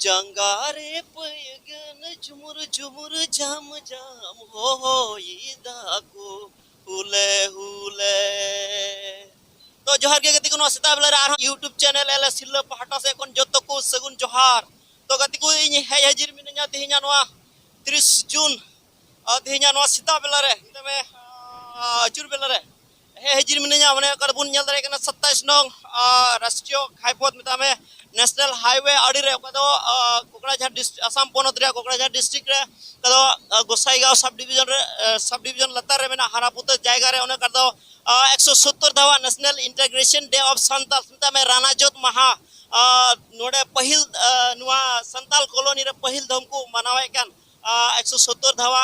ᱡᱟᱸᱜᱟ ᱨᱮ ᱯᱟᱹᱭᱜᱟᱹᱱ ᱡᱷᱩᱢᱩᱨ ᱡᱷᱩᱢᱩᱨ ᱡᱷᱟᱢ ᱡᱷᱟᱢ ᱦᱚᱭ ᱫᱟᱠᱚ ᱦᱩᱞᱮ ᱦᱩᱞᱮ ᱛᱚ ᱡᱚᱦᱟᱨ ᱜᱮ ᱜᱟᱛᱮ ᱠᱚ ᱱᱚᱣᱟ ᱥᱮᱛᱟᱜ ᱵᱮᱞᱟ ᱨᱮ ᱟᱨᱦᱚᱸ ᱤᱭᱩᱴᱩᱵᱽ ᱪᱮᱱᱮᱞ ᱮᱞ ᱮᱥ ᱥᱤᱞᱟᱹ ᱯᱟᱦᱴᱟ ᱥᱮᱫ ᱠᱷᱚᱱ ᱡᱚᱛᱚ ᱠᱚ ᱥᱟᱹᱜᱩᱱ ᱡᱚᱦᱟᱨ ᱛᱚ ᱜᱟᱛᱮ ᱠᱚ ᱤᱧ ᱦᱮᱡ ᱦᱟᱹᱡᱤᱨ ᱢᱤᱱᱟᱹᱧᱟ ᱛᱮᱦᱮᱧᱟ ᱱᱚᱣᱟ ᱛᱤᱨᱤᱥ ᱡᱩᱱ ᱛᱮᱦᱮᱧᱟ ᱱᱚᱣᱟ ᱥᱮᱛᱟᱜ ᱵᱮᱞᱟ ᱨᱮ ᱢᱮᱛᱟᱜ ᱢᱮ ᱟᱹᱪᱩᱨ ᱵᱮᱞᱟ ᱨᱮ ᱦᱮᱸ ᱦᱮᱡᱤᱨ ᱢᱤᱱᱟᱹᱧᱟ ᱢᱟᱱᱮ ᱚᱠᱟᱨᱮ ᱵᱚᱱ ᱧᱮᱞ ᱫᱟᱲᱮᱭᱟᱜ ᱠᱟᱱᱟ ᱥᱟᱛᱟᱭᱤᱥ ᱱᱚᱝ ᱨᱟᱥᱴᱨᱤᱭᱚ ᱜᱷᱟᱭ ᱯᱚᱫᱽ ᱢᱮᱛᱟᱜ ᱢᱮ ᱱᱮᱥᱱᱟᱞ ᱦᱟᱭᱣᱮ ᱟᱹᱰᱤ ᱨᱮ ᱚᱠᱟ ᱫᱚ ᱠᱚᱠᱲᱟᱡᱷᱟᱨ ᱟᱥᱟᱢ ᱯᱚᱱᱚᱛ ᱨᱮᱭᱟᱜ ᱠᱚᱠᱲᱟᱡᱷᱟᱨ ᱰᱤᱥᱴᱨᱤᱠ ᱨᱮ ᱚᱠᱟ ᱫᱚ ᱜᱚᱥᱟᱭᱜᱟᱸᱣ ᱥᱟᱵ ᱰᱤᱵᱷᱤᱡᱚᱱ ᱨᱮ ᱥᱟᱵ ᱰᱤᱵᱷᱤᱡᱚᱱ ᱞᱟᱛᱟᱨ ᱨᱮ ᱢᱮᱱᱟᱜ ᱦᱟᱨᱟᱯᱩᱛᱟᱹ ᱡᱟᱭᱜᱟ ᱨᱮ ᱚᱱᱟ ᱠᱟᱨ ᱫᱚ ᱮᱠᱥᱚ ᱥᱳᱛᱛᱚᱨ ᱫᱷᱟᱣᱟ national integration day of Santal ᱢᱮᱛᱟᱜ ᱢᱮ ᱨᱟᱱᱟ ᱡᱳᱛ ᱢᱟᱦᱟ ᱱᱚᱰᱮ ᱯᱟᱹᱦᱤᱞ ᱱᱚᱣᱟ ᱥᱟᱱᱛᱟᱞ ᱠᱚᱞᱚᱱᱤ ᱨᱮ ᱯᱟᱹᱦᱤᱞ ᱫᱷᱚᱢ ᱠᱚ ᱢᱟᱱᱟᱣᱮᱫ ᱠᱟᱱ ᱮᱠᱥᱚ ᱥᱳᱛᱛᱚᱨ ᱫᱷᱟᱣᱟ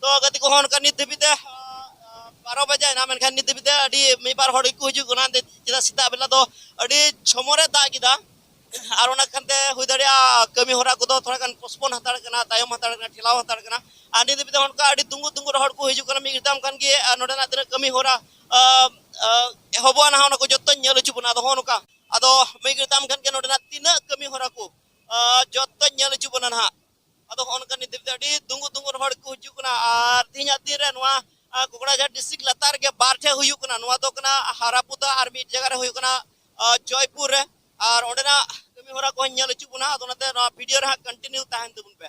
ᱛᱚ ᱜᱟᱛᱮ ᱠᱚᱦᱚᱸ ᱚᱱᱠᱟ ᱱᱤᱛ ᱫᱷᱟᱹᱵᱤᱡ ᱛᱮ ᱵᱟᱨᱚ ᱵᱟᱡᱟᱭᱮᱱᱟ ᱢᱮᱱᱠᱷᱟᱱ ᱱᱤᱛ ᱫᱷᱟᱹᱵᱤᱡ ᱛᱮ ᱟᱹᱰᱤ ᱢᱤᱫ ᱵᱟᱨ ᱦᱚᱲ ᱜᱮᱠᱚ ᱦᱤᱡᱩᱜ ᱠᱟᱱᱟ ᱪᱮᱫᱟᱜ ᱥᱮᱛᱟᱜ ᱵᱮᱞᱟ ᱫᱚ ᱟᱹᱰᱤ ᱡᱷᱚᱢᱚᱨ ᱮ ᱫᱟᱜ ᱠᱮᱫᱟ ᱟᱨ ᱚᱱᱟ ᱠᱷᱟᱱᱛᱮ ᱦᱩᱭ ᱫᱟᱲᱮᱭᱟᱜᱼᱟ ᱠᱟᱹᱢᱤ ᱦᱚᱨᱟ ᱠᱚᱫᱚ ᱛᱷᱚᱲᱟ ᱜᱟᱱ ᱯᱳᱥᱯᱳᱱ ᱦᱟᱛᱟᱲ ᱠᱟᱱᱟ ᱛᱟᱭᱚᱢ ᱦᱟᱛᱟᱲ ᱠᱟᱱᱟ ᱴᱷᱮᱞᱟᱣ ᱦᱟᱛᱟᱲ ᱠᱟᱱᱟ ᱟᱨ ᱱᱤᱛ ᱫᱷᱟᱹᱵᱤᱡ ᱛᱮ ᱚᱱᱠᱟ ᱟᱹᱰᱤ ᱫᱩᱝᱜᱩ ᱫᱩᱝᱜᱩ ᱦᱚᱲ ᱠᱚ ᱦᱤᱡᱩᱜ ᱠᱟᱱᱟ ᱢᱤᱫ ᱜᱷᱟᱹᱲᱤᱡ ᱠᱷᱟᱱ ᱜᱮ ᱱᱚᱰᱮᱱᱟᱜ ᱛᱤᱱᱟᱹᱜ ᱠᱟᱹᱢᱤ ᱦᱚᱨᱟ ᱮᱦᱚᱵᱚᱜᱼᱟ ᱱᱟᱦᱟᱜ ᱚᱱᱟ ᱠᱚ ᱡᱚᱛᱚᱧ ᱧᱮᱞ ᱦᱚᱪᱚ ᱵᱚᱱᱟ ᱟᱫᱚ ᱦᱚᱸ ᱱᱚᱝᱠᱟ ᱟᱫᱚ ᱢᱤᱫ ᱜᱷᱟᱹᱲᱤᱡ ᱛᱟᱭᱚᱢ ᱠᱷᱟᱱ ᱜᱮ ᱱᱚᱰᱮᱱᱟᱜ ᱛᱤᱱᱟᱹᱜ ᱠᱟᱹᱢᱤ ᱦᱚᱨᱟ ᱠᱚ ᱡᱚᱛᱚᱧ ᱧᱮᱞ ᱦᱚᱪᱚ ᱵᱚᱱᱟ ᱱᱟᱦᱟᱜ ᱟᱫᱚ ᱦᱚᱸᱜᱼᱚ ᱱᱚᱝᱠᱟ ᱱᱤᱛ ᱫᱷᱟᱹᱵᱤᱡ ᱛᱮ ᱟᱹᱰᱤ ᱫᱩᱝᱜᱩ ᱫᱩᱝᱜᱩ ᱦᱚᱲ ᱠᱚ ᱦᱤᱡᱩᱜ ᱠᱟᱱᱟ ᱟᱨ ᱛᱮᱦᱮᱧᱟᱜ ᱫᱤᱱ ᱨᱮ ᱱᱚᱣᱟ ᱟᱨ ᱠᱚᱠᱲᱟᱡᱷᱟᱨ ᱰᱤᱥᱴᱨᱤᱠᱴ ᱞᱟᱛᱟᱨ ᱨᱮᱜᱮ ᱵᱟᱨ ᱴᱷᱮᱱ ᱦᱩᱭᱩᱜ ᱠᱟᱱᱟ ᱱᱚᱣᱟ ᱫᱚ ᱠᱟᱱᱟ ᱦᱟᱨᱟᱯᱩᱫᱟ ᱟᱨ ᱢᱤᱫ ᱡᱟᱭᱜᱟ ᱨᱮ ᱦᱩᱭᱩᱜ ᱠᱟᱱᱟ ᱡᱚᱭᱯᱩᱨ ᱨᱮ ᱟᱨ ᱚᱸᱰᱮᱱᱟᱜ ᱠᱟᱹᱢᱤ ᱦᱚᱨᱟ ᱠᱚ ᱧᱮᱞ ᱦᱚᱪᱚ ᱵᱚᱱᱟ ᱟᱫᱚ ᱚᱱᱟᱛᱮ ᱱᱚᱣᱟ ᱵᱷᱤᱰᱤᱭᱳ ᱨᱮ ᱦᱟᱸᱜ ᱠᱚᱱᱴᱤᱱᱤᱭᱩ ᱛᱟᱦᱮᱱ ᱛᱟᱵᱚᱱ ᱯᱮ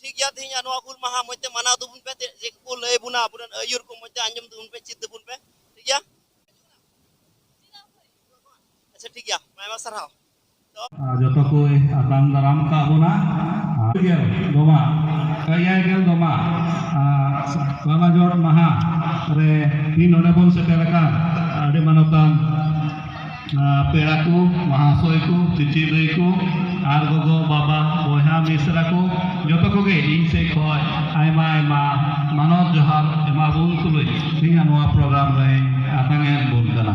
ᱴᱷᱤᱠ ᱜᱮᱭᱟ ᱛᱮᱦᱮᱧ ᱱᱚᱣᱟ ᱦᱩᱞ ᱢᱟᱦᱟ ᱢᱚᱡᱽ ᱛᱮ ᱢᱟᱱᱟᱣ ᱛᱟᱵᱚᱱ ᱯᱮ ᱪᱮᱫ ᱠᱚ ᱞᱟᱹᱭ ᱵᱚᱱᱟ ᱟᱵᱚᱨᱮᱱ ᱟᱹᱭᱩᱨ ᱠᱚ ᱢᱚᱡᱽ ᱛᱮ ᱟᱸᱡᱚᱢ ᱛᱟᱵᱚᱱ ᱯᱮ ᱪᱮᱫ ᱛᱟᱵᱚᱱ ᱯᱮ ᱴᱷᱤᱠ ᱜᱮᱭᱟ ᱟᱪᱪᱷᱟ ᱴᱷᱤᱠ ᱜᱮᱭᱟ ᱟᱭᱢᱟ ᱥᱟᱨᱦᱟᱣ ᱡᱚᱛᱚ ᱠᱚ ᱟᱛᱟᱝ ᱫᱟᱨᱟᱢ ᱠᱟᱜ ᱵᱚᱱᱟ ᱜᱮᱞ ᱫᱚᱢᱟ ᱮᱭᱟᱭ ᱜᱮᱞ ᱫᱚᱢᱟ ᱞᱟᱞᱟ ᱡᱚᱲ ᱢᱟᱦᱟ ᱨᱮ ᱛᱤᱦᱤᱧ ᱱᱚᱰᱮ ᱵᱚᱱ ᱥᱮᱴᱮᱨ ᱟᱠᱟᱱ ᱟᱹᱰᱤ ᱢᱟᱱᱚᱛᱟᱱ ᱯᱮᱲᱟ ᱠᱚ ᱢᱚᱦᱟᱥᱚᱭ ᱠᱚ ᱪᱤᱪᱤ ᱫᱟᱹᱭ ᱠᱚ ᱟᱨ ᱜᱚᱜᱚ ᱵᱟᱵᱟ ᱵᱚᱭᱦᱟ ᱢᱤᱥᱨᱟ ᱠᱚ ᱡᱚᱛᱚ ᱠᱚᱜᱮ ᱤᱧ ᱥᱮᱫ ᱠᱷᱚᱱ ᱟᱭᱢᱟ ᱟᱭᱢᱟ ᱢᱟᱱᱚᱛ ᱡᱚᱦᱟᱨ ᱮᱢᱟ ᱵᱚᱱ ᱛᱩᱞᱩᱡ ᱤᱧᱟᱹᱜ ᱱᱚᱣᱟ ᱯᱨᱳᱜᱨᱟᱢ ᱨᱮ ᱟᱛᱟᱝ ᱮᱫ ᱵᱚᱱ ᱠᱟᱱᱟ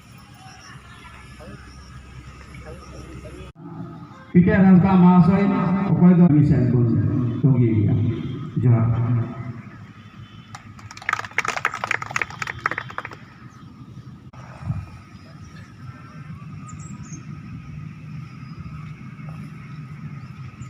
ᱯᱤᱴᱟᱨ ᱦᱟᱸᱥᱫᱟ ᱢᱟᱦᱟᱥᱚᱭ ᱚᱠᱚᱭ ᱫᱚ ᱢᱤᱥᱮᱞ ᱵᱚᱱ ᱛᱚᱸᱜᱮᱭᱟ ᱡᱚᱦᱟᱨ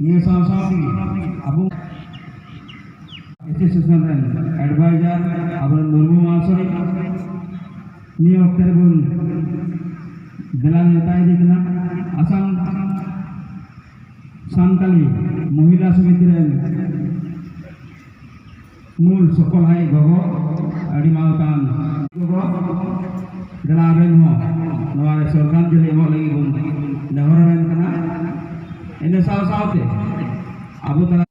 ᱱᱤᱭᱟᱹ ᱥᱟᱶ ᱥᱟᱶᱛᱮ ᱟᱵᱚ ᱮᱥᱳᱥᱤᱭᱮᱥᱚᱱ ᱨᱮᱱ ᱮᱰᱵᱷᱟᱭᱡᱟᱨ ᱟᱵᱚᱨᱮᱱ ᱢᱩᱨᱢᱩ ᱢᱟᱦᱟᱥᱚᱭ ᱱᱤᱭᱟᱹ ᱚᱠᱛᱮ ᱨᱮᱵᱚᱱ ᱫᱮᱞᱟ ᱱᱮᱣᱛᱟ ᱤᱫᱤ ᱠᱟᱱᱟ ᱟᱥᱟᱢ ᱥᱟᱱᱛᱟᱞᱤ ᱢᱚᱦᱤᱞᱟ ᱥᱚᱢᱤᱛᱤ ᱨᱮᱱ ᱢᱩᱞ ᱥᱚᱯᱷᱚᱞ ᱦᱟᱭ ᱜᱚᱜᱚ ᱟᱹᱰᱤ ᱢᱟᱱᱚᱛᱟᱱ ᱜᱚᱜᱚ ᱫᱮᱞᱟ ᱟᱵᱮᱱ ᱦᱚᱸ ᱱᱚᱣᱟ ᱨᱮ ᱥᱚᱨᱠᱟᱨ ᱡᱟᱹᱱᱤ ᱮᱢᱚᱜ ᱞᱟᱹᱜᱤᱫ ᱵᱚᱱ ᱱᱮᱦᱚᱨ ᱟᱵᱮᱱ ᱠᱟᱱᱟ ᱤᱱᱟᱹ ᱥᱟᱶ ᱥᱟᱶᱛᱮ ᱟᱵᱚ ᱛᱟᱞᱟ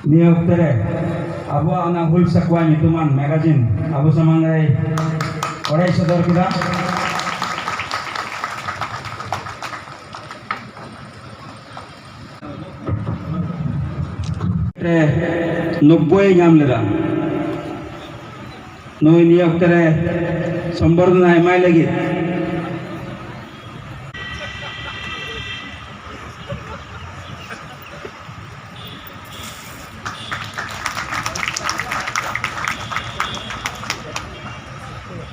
ᱱᱤᱭᱟᱹ ᱚᱠᱛᱮ ᱨᱮ ᱟᱵᱚᱣᱟᱜ ᱚᱱᱟ ᱦᱩᱞ ᱥᱟᱠᱣᱟ ᱧᱩᱛᱩᱢᱟᱱ ᱢᱮᱜᱟᱡᱤᱱ ᱟᱵᱚ ᱥᱟᱢᱟᱝ ᱨᱮ ᱚᱲᱟᱭ ᱥᱚᱫᱚᱨ ᱠᱮᱫᱟ ᱱᱚᱵᱽᱵᱚᱭ ᱮ ᱧᱟᱢ ᱞᱮᱫᱟ ᱱᱩᱭ ᱱᱤᱭᱟᱹ ᱚᱠᱛᱮ ᱨᱮ ᱥᱚᱢᱵᱚᱨᱫᱷᱚᱱᱟ ᱮᱢᱟᱭ ᱞᱟᱹᱜᱤᱫ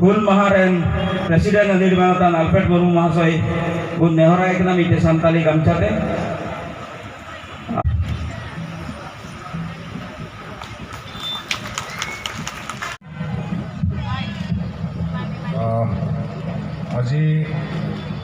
ᱦᱩᱞ ᱢᱟᱦᱟ ᱨᱮᱱ ᱯᱨᱮᱥᱤᱰᱮᱱᱴ ᱟᱹᱫᱤᱨ ᱢᱟᱱᱚᱛᱟᱱ ᱟᱞᱯᱷᱨᱮᱰ ᱢᱩᱨᱢᱩ ᱢᱚᱦᱟᱥᱚᱭ ᱵᱚᱱ ᱱᱮᱦᱚᱨᱟᱭ ᱠᱟᱱᱟ ᱢᱤᱫᱴᱮᱱ ᱥᱟᱱᱛᱟᱞᱤ ᱜᱟᱢᱪᱷᱟ ᱛᱮ আজি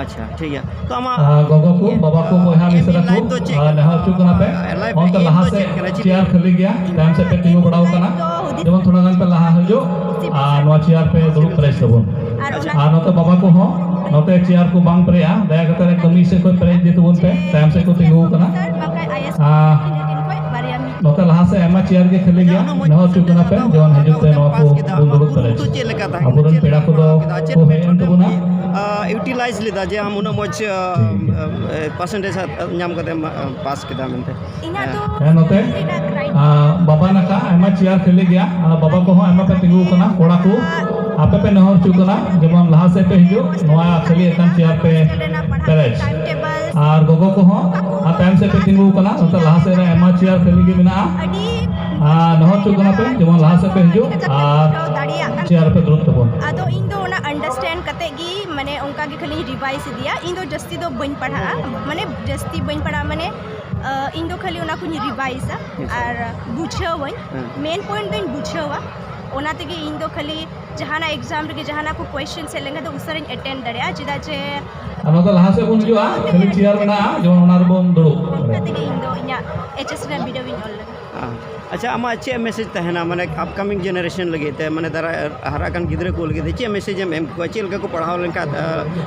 ᱟᱪᱪᱷᱟ ᱴᱷᱤᱠ ᱜᱮᱭᱟ ᱛᱚ ᱟᱢᱟᱜ ᱜᱚᱜᱚ ᱠᱚ ᱵᱟᱵᱟ ᱠᱚ ᱵᱚᱭᱦᱟ ᱢᱤᱥᱨᱟ ᱠᱚ ᱱᱮᱦᱚᱨ ᱦᱚᱪᱚᱜ ᱠᱟᱱᱟ ᱯᱮ ᱚᱱᱛᱮ ᱞᱟᱦᱟ ᱥᱮᱫ ᱪᱮᱭᱟᱨ ᱠᱷᱟᱹᱞᱤ ᱜᱮᱭᱟ ᱛᱟᱭᱚᱢ ᱥᱮᱫ ᱯᱮ ᱛᱤᱸᱜᱩ ᱵᱟᱲᱟᱣ ᱠᱟᱱᱟ ᱡᱮᱢᱚᱱ ᱛᱷᱚᱲᱟ ᱜᱟᱱ ᱯᱮ ᱞᱟᱦᱟ ᱦᱤᱡᱩᱜ ᱟᱨ ᱱᱚᱣᱟ ᱪᱮᱭᱟᱨ ᱯᱮ ᱫᱩᱲᱩᱵ ᱯᱮᱨᱮᱡ ᱛᱟᱵᱚᱱ ᱟᱨ ᱱᱚᱛᱮ ᱵᱟᱵᱟ ᱠᱚ ᱦᱚᱸ ᱱᱚᱛᱮ ᱪᱮᱭᱟᱨ ᱠᱚ ᱵᱟᱝ ᱯᱮᱨᱮᱡᱼᱟ ᱫᱟᱭᱟ ᱠᱟᱛᱮ ᱮᱠᱫᱚᱢ ᱢᱤᱫ ᱥᱮᱫ ᱠᱷᱚᱱ ᱯᱮᱨᱮᱡ ᱤᱫᱤ ᱛᱟᱵᱚᱱ ᱯᱮ ᱛᱟᱭᱚᱢ ᱥᱮᱫ ᱠᱚ ᱛᱤᱸᱜᱩ ᱠᱟᱱᱟ ᱱᱚᱛᱮ ᱞᱟᱦᱟ ᱥᱮ ᱟᱭᱢᱟ ᱪᱮᱭᱟᱨ ᱜᱮ ᱠᱷᱟᱹᱞᱤ ᱜᱮᱭᱟ ᱱᱚᱣᱟ ᱦᱚᱪᱚ ᱠᱟᱱᱟ ᱯᱮ ᱡᱮᱢᱚᱱ ᱦᱤᱡᱩᱜ ᱛᱮ ᱱᱚᱣᱟ ᱠᱚ ᱵᱚᱱ ᱫᱩᱲᱩᱵ ᱫᱟᱲᱮ ᱟᱵᱚᱨᱮᱱ ᱯᱮᱲᱟ ᱠᱚᱫᱚ ᱠᱚ ᱦᱮᱡ ᱮᱱ ᱛᱟᱵᱚᱱᱟ ᱤᱭᱩᱴᱤᱞᱟᱭᱤᱡᱽ ᱞᱮᱫᱟ ᱡᱮ ᱟᱢ ᱩᱱᱟᱹᱜ ᱢᱚᱡᱽ ᱯᱟᱨᱥᱮᱱᱴᱮᱡᱽ ᱧᱟᱢ ᱠᱟᱛᱮ ᱯᱟᱥ ᱠᱮᱫᱟ ᱢᱮᱱᱛᱮ ᱦᱮᱸ ᱱᱚᱛᱮ ᱵᱟᱵᱟ ᱱᱟᱠᱟ ᱟᱭᱢᱟ ᱪᱮᱭᱟᱨ ᱠᱷᱟᱹᱞᱤ ᱜᱮᱭᱟ ᱟᱨ ᱵᱟᱵᱟ ᱠᱚᱦᱚᱸ ᱟᱭᱢᱟ ᱯᱮ ᱛᱤᱸᱜᱩ ᱠᱟᱱᱟ ᱠᱚᱲᱟ ᱠᱚ ᱟᱯᱮ ᱯᱮ ᱱᱮᱦᱚᱨ ᱦᱚᱪᱚ ᱠᱟᱱᱟ ᱡᱮᱢᱚᱱ ᱞᱟᱦᱟ ᱥᱮᱫ ᱯᱮ ᱦᱤᱡᱩᱜ ᱱᱚᱣᱟ ᱠᱷᱟᱹᱞᱤ ᱟᱠᱟᱱ ᱪᱮᱭᱟᱨ ᱯᱮ ᱯᱮᱨᱮᱡᱽ ᱟᱨ ᱜᱚᱜᱚ ᱠᱚᱦᱚᱸ ᱟᱨ ᱛᱟᱭᱚᱢ ᱥᱮᱫ ᱯᱮ ᱛᱤᱸᱜᱩ ᱠᱟᱱᱟ ᱱᱚᱛᱮ ᱞᱟᱦᱟ ᱥᱮᱫ ᱨᱮ ᱟᱭᱢᱟ ᱪᱮᱭᱟᱨ ᱠᱷᱟᱹᱞᱤ ᱜᱮ ᱢᱮᱱᱟᱜᱼᱟ ᱟᱨ ᱱᱚᱦᱚᱨ ᱦᱚᱪᱚᱜ ᱠᱟᱱᱟ ᱯᱮ ᱡᱮᱢᱚᱱ ᱞᱟᱦᱟ ᱥᱮᱫ ᱯᱮ ᱦᱤᱡᱩᱜ ᱟᱨ ᱪᱮᱭᱟᱨ ᱯᱮ ᱫᱩᱲᱩᱵ ᱛᱟᱵᱚᱱ ᱟᱫᱚ ᱤᱧ ᱫᱚ ᱚᱱᱟ ᱟᱱᱰᱟᱨᱥᱴᱮᱱᱰ ᱠᱟᱛᱮ ᱜᱮ ᱢᱟᱱᱮ ᱚᱱᱠᱟ ᱜᱮ ᱠᱷᱟᱹᱞᱤᱧ ᱨᱤᱵᱟᱭᱤᱥ ᱤᱫᱤᱭᱟ ᱤᱧ ᱫᱚ ᱡᱟᱹᱥᱛᱤ ᱫᱚ ᱵᱟᱹᱧ ᱯᱟᱲᱦᱟᱜᱼᱟ ᱢᱟᱱᱮ ᱡᱟᱹᱥᱛᱤ ᱵᱟᱹᱧ ᱯᱟᱲᱦᱟᱜᱼᱟ ᱢᱟᱱᱮ ᱤᱧ ᱫᱚ ᱠᱷᱟᱹᱞᱤ ᱚᱱᱟ ᱠᱚᱧ ᱨᱤᱵᱟᱭᱤᱥᱟ ᱟᱨ ᱵᱩᱡᱷᱟᱹᱣᱟᱹᱧ ᱢᱮᱱ ᱯᱚᱭᱮᱱᱴ ᱫᱚᱧ ᱵᱩᱡᱷᱟᱹᱣᱟ ᱚᱱᱟ ᱛᱮᱜᱮ ᱤᱧ ᱫᱚ ᱠᱷᱟᱹᱞᱤ ᱡᱟᱦᱟᱱᱟᱜ ᱮᱠᱡᱟᱢ ᱨᱮᱜᱮ ᱡᱟᱦᱟᱱᱟᱜ ᱠᱚ ᱠᱚᱭᱮᱥᱪᱮᱱ ᱦᱮᱡ ᱞᱮᱱᱠᱷᱟᱱ ᱫᱚ ᱩᱥᱟᱹᱨᱟᱧ ᱮᱴᱮᱱᱰ ᱫᱟᱲᱮᱭᱟᱜᱼᱟ ᱪᱮᱫᱟᱜ ᱡᱮ ᱚᱱᱟ ᱫᱚ ᱞᱟᱦᱟ ᱥᱮᱫ ᱵᱚᱱ ᱦᱤᱡᱩᱜᱼᱟ ᱠᱷᱟᱹᱞᱤ ᱪᱮᱭᱟᱨ ᱢᱮᱱᱟᱜᱼᱟ ᱡᱮᱢᱚᱱ ᱚᱱᱟ ᱨᱮᱵᱚᱱ ᱫᱩᱲᱩᱵ ᱟᱪᱪᱷᱟ ᱟᱢᱟᱜ ᱪᱮᱫ ᱢᱮᱥᱮᱡᱽ ᱛᱟᱦᱮᱱᱟ ᱢᱟᱱᱮ ᱟᱯᱠᱟᱢᱤᱝ ᱡᱮᱱᱟᱨᱮᱥᱚᱱ ᱞᱟᱹᱜᱤᱫ ᱛᱮ ᱢᱟᱱᱮ ᱫᱟᱨᱟᱭ ᱦᱟᱨᱟᱜ ᱠᱟᱱ ᱜᱤᱫᱽᱨᱟᱹ ᱠᱚ ᱞᱟᱹᱜᱤᱫ ᱛᱮ ᱪᱮᱫ ᱢᱮᱥᱮᱡᱽ ᱮᱢ ᱮᱢ ᱠᱚᱣᱟ ᱪᱮᱫ ᱞᱮᱠᱟ ᱠᱚ ᱯᱟᱲᱦᱟᱣ ᱞᱮᱱᱠᱷᱟᱱ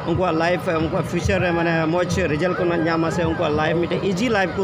ᱩᱱᱠᱩᱣᱟᱜ ᱞᱟᱭᱤᱯᱷ ᱩᱱᱠᱩᱣᱟᱜ ᱯᱷᱤᱭᱩᱪᱟᱨ ᱨᱮ ᱢᱟᱱᱮ ᱢᱚᱡᱽ ᱨᱮᱡᱟᱞᱴ ᱠᱚ ᱧᱟᱢᱟ ᱥᱮ ᱩᱱᱠᱩᱣᱟᱜ ᱞᱟᱭᱤᱯᱷ ᱢᱤᱫᱴᱮᱱ ᱤᱡᱤ ᱞᱟᱭᱤᱯᱷ ᱠᱚ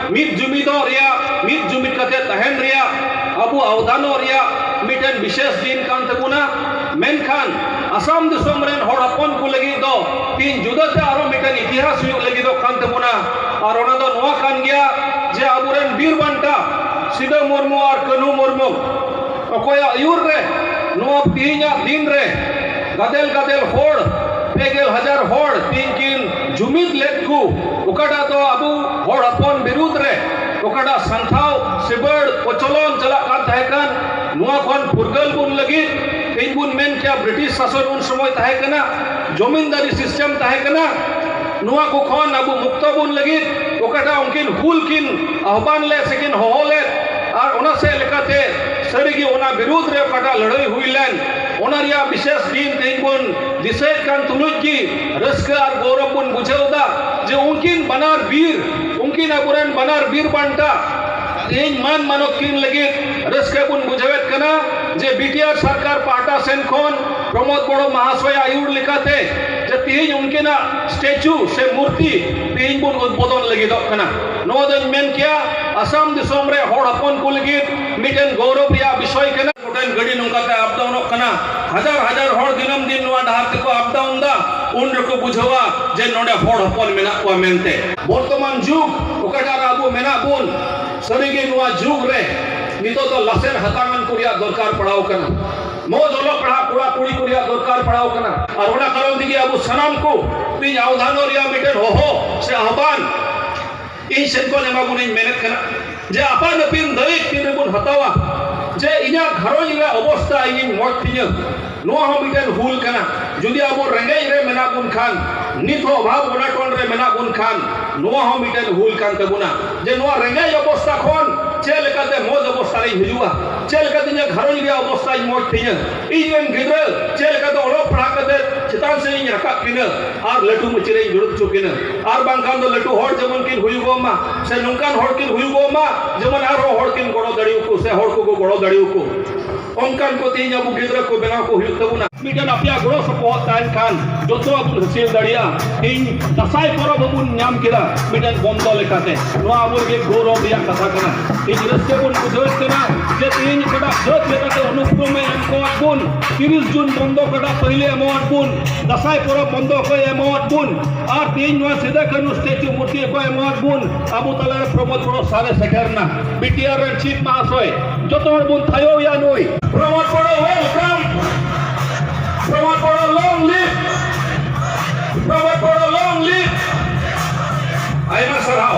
ᱢᱤᱫ ᱡᱩᱢᱤᱫᱚᱜ ᱨᱮᱭᱟᱜ, ᱢᱤᱫ ᱡᱩᱢᱤᱫ ᱠᱟᱛᱮ ᱛᱟᱦᱮᱸᱱ ᱨᱮᱭᱟᱜ, ᱟᱵᱚ ᱟᱣᱫᱟᱱᱚᱜ ᱨᱮᱭᱟᱜ ᱢᱤᱫᱴᱮᱱ ᱵᱤᱥᱮᱥ ᱫᱤᱱ ᱠᱟᱱ ᱛᱟᱵᱚᱱᱟ᱾ ᱢᱮᱱᱠᱷᱟᱱ ᱟᱥᱟᱢ ᱫᱤᱥᱚᱢ ᱨᱮᱱ ᱦᱚᱲ ᱦᱚᱯᱚᱱ ᱠᱚ ᱞᱟᱹᱜᱤᱫ ᱫᱚ ᱛᱤᱦᱤᱧ ᱡᱩᱫᱟᱹ ᱛᱮ ᱟᱨᱦᱚᱸ ᱢᱤᱫᱴᱮᱱ ᱤᱛᱤᱦᱟᱥ ᱦᱩᱭᱩᱜ ᱞᱟᱹᱜᱤᱫᱚᱜ ᱠᱟᱱ ᱛᱟᱵᱚᱱᱟ ᱟᱨ ᱚᱱᱟ ᱫᱚ ᱱᱚᱣᱟ ᱠᱟᱱ ᱜᱮᱭᱟ ᱡᱮ ᱟᱵᱚ ᱨᱮᱱ ᱵᱤᱨ ᱵᱟᱱᱴᱟ ᱥᱤᱫᱚ ᱢᱩᱨᱢᱩ ᱟᱨ ᱠᱟᱹᱱᱦᱩ ᱢᱩᱨᱢᱩ ᱚᱠᱚᱭᱟᱜ ᱟᱹᱭᱩᱨ ᱨᱮ ᱱᱚᱣᱟ ᱛᱤᱦᱤᱧᱟᱜ ᱫᱤᱱ ᱨᱮ ᱜᱟᱫᱮᱞ ᱜᱟᱫᱮᱞ ᱦᱚᱲ ᱯᱮ ᱜᱮᱞ ᱦᱟᱡᱟᱨ ᱦᱚᱲ ᱛᱤᱦᱤᱧ ᱠᱤᱱ ᱡᱩᱢᱤᱫ ᱞᱮᱫ ᱠᱚ ᱚᱠᱟᱴᱟᱜ ᱫᱚ ᱟᱵᱚ ᱦᱚᱲ ᱦᱚᱯᱚᱱ ᱵᱤᱨᱩᱫᱽ ᱨᱮ ᱚᱠᱟᱴᱟᱜ ᱥᱟᱱᱛᱷᱟᱣ ᱥᱤᱵᱟᱹᱲ ᱠᱚᱪᱚᱞᱚᱱ ᱪᱟᱞᱟᱜ ᱠᱟᱱ ᱛᱟᱦᱮᱸ ᱠᱟᱱ ᱱᱚᱣᱟ ᱠᱷᱚᱱ ᱯᱷᱩᱨᱜᱟᱹᱞ ᱵᱚᱱ ᱞᱟᱹᱜᱤᱫ ᱛᱮᱦᱮᱧ ᱵᱚᱱ ᱢᱮᱱ ᱠᱮᱭᱟ ᱵᱨᱤᱴᱤᱥ ᱥᱟᱥᱚᱱ ᱩᱱ ᱥᱚᱢᱚᱭ ᱛᱟᱦᱮᱸ ᱠᱟᱱᱟ ᱡᱚᱢᱤᱱᱫᱟᱨᱤ ᱥᱤᱥᱴᱮᱢ ᱛᱟᱦᱮᱸ ᱠᱟᱱᱟ ᱱᱚᱣᱟ ᱠᱚ ᱠᱷᱚᱱ ᱟᱵᱚ ᱢᱩᱠᱛᱚ ᱵᱚᱱ ᱞᱟᱹᱜᱤᱫ ᱚᱠᱟᱴᱟᱜ ᱩᱱᱠᱤᱱ ᱦᱩᱞ ᱠᱤᱱ ᱟᱦᱵᱟᱱ ᱞᱮᱫ ᱥᱮᱠᱤᱱ ᱦᱚᱦᱚ ᱞᱮᱫ ᱟᱨ ᱚᱱᱟ ᱥᱮᱫ ᱞᱮᱠᱟᱛᱮ ᱥᱟᱹᱨᱤᱜᱮ ᱚᱱᱟ ᱵᱤᱨᱩᱫᱽ ᱨᱮ ᱚᱠᱟᱴᱟᱜ ᱞᱟᱹᱲᱦᱟᱹᱭ ᱦᱩᱭ ᱞᱮᱱ ᱚᱱᱟ ᱨᱮᱭᱟᱜ ᱵᱤᱥᱮᱥ ᱫᱤᱱ ᱛᱮᱦᱮᱧ ᱵᱚᱱ ᱫᱤᱥᱟᱹᱭᱮᱫ ᱠᱟᱱ ᱛᱩᱞᱩᱡ ᱜᱮ ᱨᱟᱹᱥᱠᱟᱹ ᱟᱨ ᱜᱚᱨᱚᱵᱽ ᱵᱚᱱ ᱵᱩᱡᱷᱟᱹᱣ ᱮᱫᱟ ᱡᱮ ᱩᱱᱠᱤᱱ ᱵᱟᱱᱟᱨ ᱵᱤᱨ ᱩᱱᱠᱤᱱ ᱟᱵᱚᱨᱮᱱ ᱵᱟᱱᱟᱨ ᱵᱤᱨ ᱵᱟᱱᱴᱟ ᱛᱮᱦᱮᱧ ᱢᱟᱱ ᱢᱟᱱᱚᱛ ᱠᱤᱱ ᱞᱟᱹᱜᱤᱫ ᱨᱟᱹᱥᱠᱟᱹ ᱵᱚᱱ ᱵᱩᱡᱷᱟᱹᱣᱮᱫ ᱠᱟᱱᱟ ᱡᱮ ᱵᱤᱴᱤᱟᱨ ᱥᱚᱨᱠᱟᱨ ᱯᱟᱦᱴᱟ ᱥᱮᱱ ᱠᱷᱚᱱ ᱯᱨᱚᱢᱳᱫᱽ ᱵᱚᱲᱚ ᱢᱚᱦᱟᱥᱚᱭ ᱟᱹᱭᱩᱨ ᱞᱮᱠᱟᱛᱮ ᱡᱮ ᱛᱮᱦᱮᱧ ᱩᱱᱠᱤᱱᱟᱜ ᱥᱴᱮᱪᱩ ᱥᱮ ᱢᱩᱨᱛᱤ ᱛᱮᱦᱮᱧ ᱵᱚᱱ ᱩᱫᱽᱵᱳᱫᱚᱱ ᱞᱟᱹᱜᱤᱫᱚᱜ ᱠᱟᱱᱟ ᱱᱚᱣᱟ ᱫᱚᱧ ᱢᱮᱱ ᱠᱮᱭᱟ ᱟᱥᱟᱢ ᱫᱤᱥᱚᱢ ᱨᱮ ᱦᱚᱲ ᱦᱚᱯᱚᱱ ᱠᱚ ᱞᱟᱹᱜᱤᱫ ᱢᱤᱫᱴᱮᱱ ᱜᱚᱨᱚᱵᱽ ᱨᱮᱭᱟᱜ ᱵᱤᱥᱚᱭ ᱠᱟᱱᱟ ᱴᱨᱮᱱ ᱜᱟᱹᱰᱤ ᱱᱚᱝᱠᱟᱛᱮ ᱟᱯ ᱰᱟᱣᱩᱱᱚᱜ ᱠᱟᱱᱟ ᱦᱟᱡᱟᱨ ᱦᱟᱡᱟᱨ ᱦᱚᱲ ᱫᱤᱱᱟᱹᱢ ᱫᱤᱱ ᱱᱚᱣᱟ ᱰᱟᱦᱟᱨ ᱛᱮᱠᱚ ᱟᱯ ᱰᱟᱣᱩᱱ ᱫᱟ ᱩᱱ ᱨᱮᱠᱚ ᱵᱩᱡᱷᱟᱹᱣᱟ ᱡᱮ ᱱᱚᱰᱮ ᱦᱚᱲ ᱦᱚᱯᱚᱱ ᱢᱮᱱᱟᱜ ᱠᱚᱣᱟ ᱢᱮᱱᱛᱮ ᱵᱚᱨᱛᱚᱢᱟᱱ ᱡᱩᱜᱽ ᱚᱠᱟᱴᱟᱜ ᱨᱮ ᱟᱵᱚ ᱢᱮᱱᱟᱜ ᱵᱚᱱ ᱥᱟᱹᱨᱤᱜᱮ ᱱᱚᱣᱟ ᱡᱩᱜᱽ ᱨᱮ ᱱᱤᱛᱚᱜ ᱫᱚ ᱞᱟᱥᱮᱨ ᱦᱟᱛᱟᱝᱟᱱ ᱠᱚ ᱨᱮᱭᱟᱜ ᱫᱚᱨᱠᱟᱨ ᱯᱟᱲᱟᱣ ᱠᱟᱱᱟ ᱢᱚᱡᱽ ᱚᱞᱚᱜ ᱯᱟᱲᱦᱟᱜ ᱠᱚᱲᱟ ᱠᱩᱲᱤ ᱠᱚ ᱨᱮᱭᱟᱜ ᱫᱚᱨᱠᱟᱨ ᱯᱟᱲᱟᱣ ᱠᱟᱱᱟ ᱟᱨ ᱚᱱᱟ ᱠᱟᱨᱚᱱ ᱛᱮᱜᱮ ᱟᱵᱚ ᱥᱟᱱᱟᱢ ᱠᱚ ᱛᱮᱦᱮᱧ ᱟᱣᱫᱷᱟᱱᱚᱜ ᱨᱮᱭᱟᱜ ᱢᱤᱫᱴᱮᱱ ᱦᱚᱦᱚ ᱥᱮ ᱟᱦᱵᱟᱱ ᱤᱧ ᱥᱮᱫ ᱠᱷᱚᱱ ᱮᱢᱟ ᱵᱚᱱ ᱤᱧ ᱢᱮᱱᱮᱫ ᱠᱟᱱᱟ ᱡᱮ ᱟᱯᱟᱱ ᱟᱹᱯᱤᱱ ᱫᱟᱹᱭᱤᱠ ᱛᱤᱱ ᱨᱮᱵᱚᱱ ᱦᱟᱛᱟᱣᱟ ᱡᱮ ᱤᱧᱟᱹᱜ ᱜᱷᱟᱨᱚᱸᱡᱽ ᱨᱮᱭᱟᱜ ᱚᱵᱚᱥᱛᱟ ᱤᱧᱤᱧ ᱢᱚᱡᱽ ᱛᱤᱧᱟᱹ ᱱᱚᱣᱟ ᱦᱚᱸ ᱢᱤᱫᱴᱮᱱ ᱦᱩᱞ ᱠᱟᱱᱟ ᱡᱩᱫᱤ ᱟᱵᱚ ᱨᱮᱸᱜᱮᱡ ᱨᱮ ᱢᱮᱱᱟᱜ ᱵᱚᱱ ᱠᱷᱟᱱ ᱱᱤᱛ ᱦᱚᱸ ᱚᱵᱷᱟᱵᱽ ᱚᱱᱟᱴᱚᱱ ᱨᱮ ᱢᱮᱱᱟᱜ ᱵᱚᱱ ᱠᱷᱟᱱ ᱱᱚᱣᱟ ᱦᱚᱸ ᱢᱤᱫᱴᱮᱱ ᱦᱩᱞ ᱠᱟᱱ ᱛᱟᱵᱚᱱᱟ ᱡᱮ ᱱᱚᱣᱟ ᱨᱮᱸᱜᱮᱡ ᱚᱵᱚᱥᱛᱟ ᱠᱷᱚᱱ ᱪᱮᱫ ᱞᱮᱠᱟᱛᱮ ᱢᱚᱡᱽ ᱚᱵᱚᱥᱛᱟ ᱨᱤᱧ ᱦᱤᱡᱩᱜᱼᱟ ᱪᱮᱫ ᱞᱮᱠᱟᱛᱮ ᱤᱧᱟᱹᱜ ᱜᱷᱟᱨᱚᱸᱡᱽ ᱨᱮᱭᱟᱜ ᱚᱵᱚᱥᱛᱟᱧ ᱢᱚᱡᱽ ᱛᱤᱧᱟᱹ ᱤᱧ ᱨᱮᱱ ᱜᱤᱫᱽᱨᱟᱹ ᱪᱮᱫ ᱞᱮᱠᱟ ᱫᱚ ᱚᱞᱚᱜ ᱯᱟᱲᱦᱟᱜ ᱠᱟᱛᱮ ᱪᱮᱛᱟᱱ ᱥᱮᱫ ᱤᱧ ᱨᱟᱠᱟᱵ ᱠᱤᱱᱟᱹ ᱟᱨ ᱞᱟᱹᱴᱩ ᱢᱟᱹᱪᱤ ᱨᱮᱧ ᱫᱩᱲᱩᱵ ᱦᱚᱪᱚ ᱠᱤᱱᱟᱹ ᱟᱨ ᱵᱟᱝᱠᱷᱟᱱ ᱫᱚ ᱞᱟᱹᱴᱩ ᱦᱚᱲ ᱡᱮᱢᱚᱱ ᱠᱤᱱ ᱦᱩᱭᱩᱜᱚᱜ ᱢᱟ ᱥᱮ ᱱᱚᱝᱠᱟᱱ ᱦᱚᱲ ᱠᱤᱱ ᱦᱩᱭᱩᱜᱚᱜ ᱢᱟ ᱡᱮᱢᱚᱱ ᱟᱨᱦᱚᱸ ᱦᱚᱲ ᱠᱤᱱ ᱜᱚᱲᱚ ᱫᱟᱲᱮᱭᱟᱠᱚ ᱥᱮ ᱦᱚᱲ ᱠᱚᱠᱚ ᱜᱚᱲᱚ ᱫᱟᱲᱮᱭᱟᱠᱚ ᱚᱱᱠᱟᱱ ᱠᱚ ᱛᱮᱦᱮᱧ ᱟᱵᱚ ᱜᱤᱫᱽᱨᱟᱹ ᱠᱚ ᱵᱮᱱᱟᱣ ᱠᱚ ᱦᱩᱭᱩᱜ ᱛᱟᱵᱚᱱᱟ ᱢᱤᱫᱴᱮᱱ ᱟᱯᱮᱭᱟᱜ ᱜᱚᱲᱚ ᱥᱚᱯᱚᱦᱚᱫ ᱛᱟᱦᱮᱱ ᱠᱷᱟᱱ ᱡᱚᱛᱚᱣᱟᱜ ᱵᱚᱱ ᱦᱟᱹᱥᱤᱞ ᱫᱟᱲᱮᱭᱟᱜᱼᱟ ᱛᱮᱦᱮᱧ ᱫᱟᱸᱥᱟᱭ ᱯᱚᱨᱚᱵᱽ ᱦᱚᱸᱵᱚᱱ ᱧᱟᱢ ᱠᱮᱫᱟ ᱢᱤᱫᱴᱮᱱ ᱵᱚᱱᱫᱚ ᱞᱮᱠᱟᱛᱮ ᱱᱚᱣᱟ ᱟᱵᱚ ᱞᱟᱹᱜᱤᱫ ᱜᱚᱨᱚᱵᱽ ᱨᱮᱭᱟᱜ ᱠᱟᱛᱷᱟ ᱠᱟᱱᱟ ᱟᱹᱰᱤ ᱡᱤᱨᱟᱹᱫ ᱛᱮᱵᱚᱱ ᱵᱩᱡᱷᱟᱹᱣᱮᱫ ᱠᱟᱱᱟ ᱡᱮ ᱛᱮᱦᱮᱧ ᱚᱠᱟᱴᱟᱜ ᱥᱟᱹᱛ ᱞᱮᱠᱟᱛᱮ ᱚᱱᱩᱠᱨᱚᱢᱮ ᱮᱢ ᱠᱚᱣᱟᱫ ᱵᱚᱱ ᱛᱤᱨᱤᱥ ᱡᱩᱱ ᱵᱚᱱᱫᱚ ᱚᱠᱟᱴᱟᱜ ᱯᱟᱹᱦᱤᱞᱮ ᱮᱢᱟᱣᱟᱫ ᱵᱚᱱ ᱫᱟᱥᱟᱭ ᱯᱚᱨᱚᱵᱽ ᱵᱚᱱᱫᱚ ᱚᱠᱚᱭ ᱮᱢᱟᱣᱟᱫ ᱵᱚᱱ ᱟᱨ ᱛᱮᱦᱮᱧ ᱱᱚᱣᱟ ᱥᱤᱫᱟ ᱠᱟᱹᱱᱩ ᱥᱴᱮᱪᱩ ᱢᱩᱨᱛᱤ ᱚᱠᱚᱭ ᱮᱢᱟᱣᱟᱫ ᱵᱚᱱ ᱟᱵᱚ ᱛᱟᱞᱟᱨᱮ ᱯᱨᱚᱢᱳᱫ ᱵᱚᱲᱚ ᱥᱟᱨᱮ ᱥᱮᱴᱮᱨᱱᱟ ᱵᱤᱴᱤᱟᱨ ᱨᱮᱱ ᱪᱤᱯ ᱢᱟᱦᱟᱥᱚᱭ ᱡᱚᱛᱚ ᱦᱚᱲ ᱵᱚᱱ ᱛᱷᱟᱭᱚᱭᱟ ᱱᱩᱭ ᱯᱨᱚᱢᱳᱫ ᱵᱚᱲᱚ ᱣᱮᱞᱠᱟᱢ ᱯᱨᱚᱢᱳᱫ ᱵᱚᱲᱚ ᱞᱚᱝ ᱞᱤᱯ ᱯᱨᱚᱢᱳᱫ ᱵᱚᱲᱚ ᱞᱚᱝ ᱞᱤᱯ ᱟᱭᱢᱟ ᱥᱟᱨᱦᱟᱣ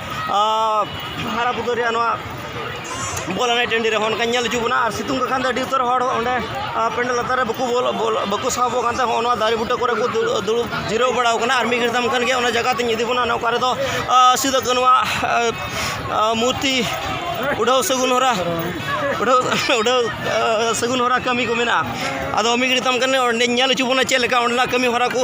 ᱦᱟᱨᱟ ᱯᱩᱨᱟᱹᱣ ᱨᱮᱭᱟᱜ ᱱᱚᱣᱟ ᱵᱚᱞ ᱮᱱᱮᱡ ᱴᱟᱺᱰᱤ ᱨᱮ ᱦᱚᱸᱜᱼᱚ ᱱᱚᱝᱠᱟᱧ ᱧᱮᱞ ᱦᱚᱪᱚ ᱵᱚᱱᱟ ᱟᱨ ᱥᱤᱛᱩᱝ ᱞᱮᱠᱷᱟᱱ ᱫᱚ ᱟᱹᱰᱤ ᱩᱛᱟᱹᱨ ᱦᱚᱲ ᱚᱸᱰᱮ ᱯᱮᱱᱰᱮᱞ ᱞᱟᱛᱟᱨ ᱨᱮ ᱵᱟᱠᱚ ᱵᱚᱞᱚᱜ ᱵᱚᱞᱚᱜ ᱵᱟᱠᱚ ᱥᱟᱦᱚᱵᱚᱜ ᱠᱟᱱ ᱛᱟᱦᱮᱸᱫ ᱦᱚᱸᱜᱼᱚ ᱱᱚᱣᱟ ᱫᱟᱨᱮ ᱵᱩᱴᱟᱹ ᱠᱚᱨᱮ ᱠᱚ ᱫᱩᱲᱩᱵ ᱫᱩᱲᱩᱵ ᱡᱤᱨᱟᱹᱣ ᱵᱟᱲᱟᱣ ᱠᱟᱱᱟ ᱟᱨ ᱢᱤᱫ ᱜᱷᱟᱹᱲᱤᱡ ᱛᱟᱭᱚᱢ ᱠᱷᱟᱱ ᱜᱮ ᱚᱱᱟ ᱡᱟᱭᱜᱟ ᱛᱤᱧ ᱤᱫᱤ ᱵᱚᱱᱟ ᱚᱱᱮ ᱚᱠᱟ ᱨᱮᱫᱚ ᱥᱤᱫᱩ ᱠᱟᱹᱱᱩᱣᱟᱜ ᱢᱩᱨᱛᱤ ᱩᱰᱷᱟᱹᱣ ᱥᱟᱹᱜᱩᱱ ᱦᱚᱨᱟ ᱩᱰᱷᱟᱹᱣ ᱩᱰᱷᱟᱹᱣ ᱥᱟᱹᱜᱩᱱ ᱦᱚᱨᱟ ᱠᱟᱹᱢᱤ ᱠᱚ ᱢᱮᱱᱟᱜᱼᱟ ᱟᱫᱚ ᱢᱤᱫ ᱜᱷᱟᱹᱲᱤᱡ ᱛᱟᱭᱚᱢ ᱠᱷᱟᱱ ᱜᱮ ᱚᱸᱰᱮᱧ ᱧᱮᱞ ᱦᱚᱪᱚ ᱵᱚᱱᱟ ᱪᱮᱫ ᱞᱮᱠᱟ ᱚᱸᱰᱮᱱᱟᱜ ᱠᱟᱹᱢᱤ ᱦᱚᱨᱟ ᱠᱚ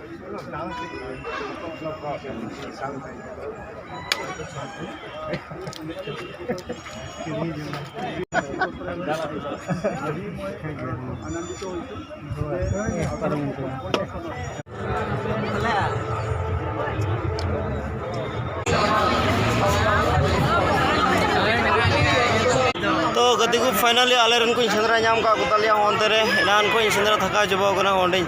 ᱜᱟᱛᱮ ᱠᱚ ᱯᱷᱟᱭᱱᱟᱞᱤ ᱟᱞᱮ ᱨᱮᱱ ᱠᱚᱧ ᱥᱮᱸᱫᱽᱨᱟ ᱧᱟᱢ ᱠᱟᱜ ᱠᱚᱛᱟᱞᱮᱭᱟ ᱚᱱᱛᱮ ᱨᱮ ᱮᱱᱟᱱ ᱠᱷᱚᱱ ᱤᱧ ᱥᱮᱸᱫᱽᱨᱟ ᱛᱷᱟᱠᱟᱣ ᱪᱟᱵᱟᱣ ᱠᱟᱱᱟ ᱚᱸᱰᱮᱧ